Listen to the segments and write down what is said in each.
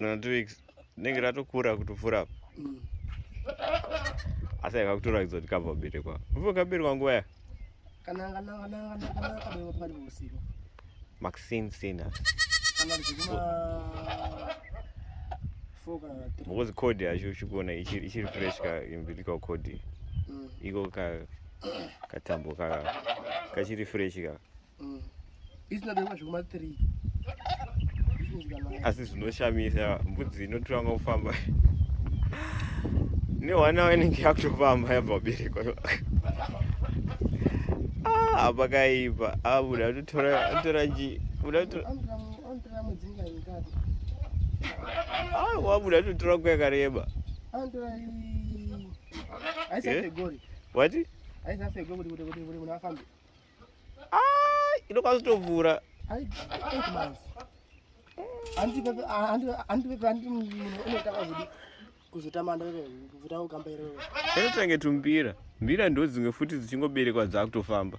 na two weeks rinenge ratokura kutopfuura apa mm. asi aika kutoratidza kuti kabva kuberekwa upo kaberekwa nguva ya maxin sina because code yacho uchikuona ichiri fresh ka umbilical code mm. iko katambo ka kachiri fresh ka mm. isinabewa zvekuma 3 asi zvinoshamisa mbudzi inotanga kufamba newana wainenge yakutofamba yabva kuberekwa ah, pakaipa abuda ah, atotora ji buda ah, wabuda atotora nguva yakareba wati ah, inokwanisa kutovhura anotange tumbira mbira ndo dzimwe futi dzichingoberekwa dzaakutofamba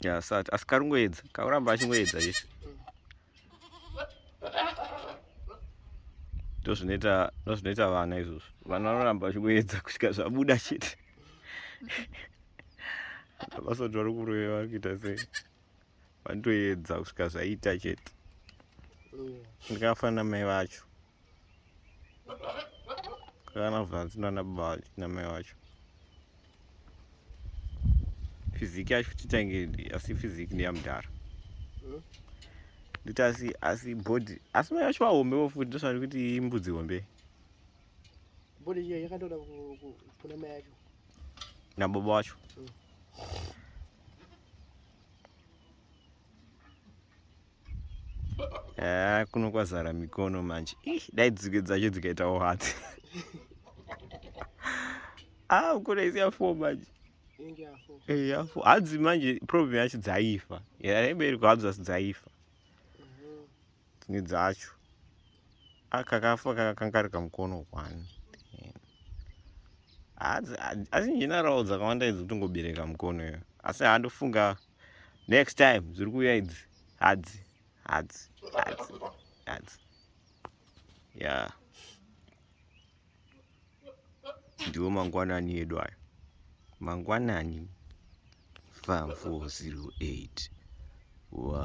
ya sati asi karingoedza kauramba achingoedza chese ndozvinoita ndozvinoita vana izvozvo vana vanoramba vachingoedza kusvika zvabuda chete vasotora kurova kuita sei vanotoedza kusvika zvaita chete ndikafanira mai vacho kana bvanzi nana baba vacho namai vacho fiziki yacho titange asi fiziki ndeyamudhara nditi asi asi body asi mai vacho vahombe vo futi ndosvani kuti imbudzi hombe body yakatoda kuna mai yacho nababa wacho mm. haa kuno kwazara mikono manje dai dzike dzacho dzikaitawo hatsi haa ah, kuno isi yafo manje eh, yafo hadzi manje problem yacho dzaifa yaibereko hadzi asi dzaifa dzimwe dzacho akakafa kakakangarika mukono kwani asi njenarawo dzakawanda idzi kutongobereka mukono iyo asi handofunga next time dziri kuuya idzi hadzi hadzi hadzi hadzi ya ndiwo mangwanani edu ayo mangwanani 5408 wa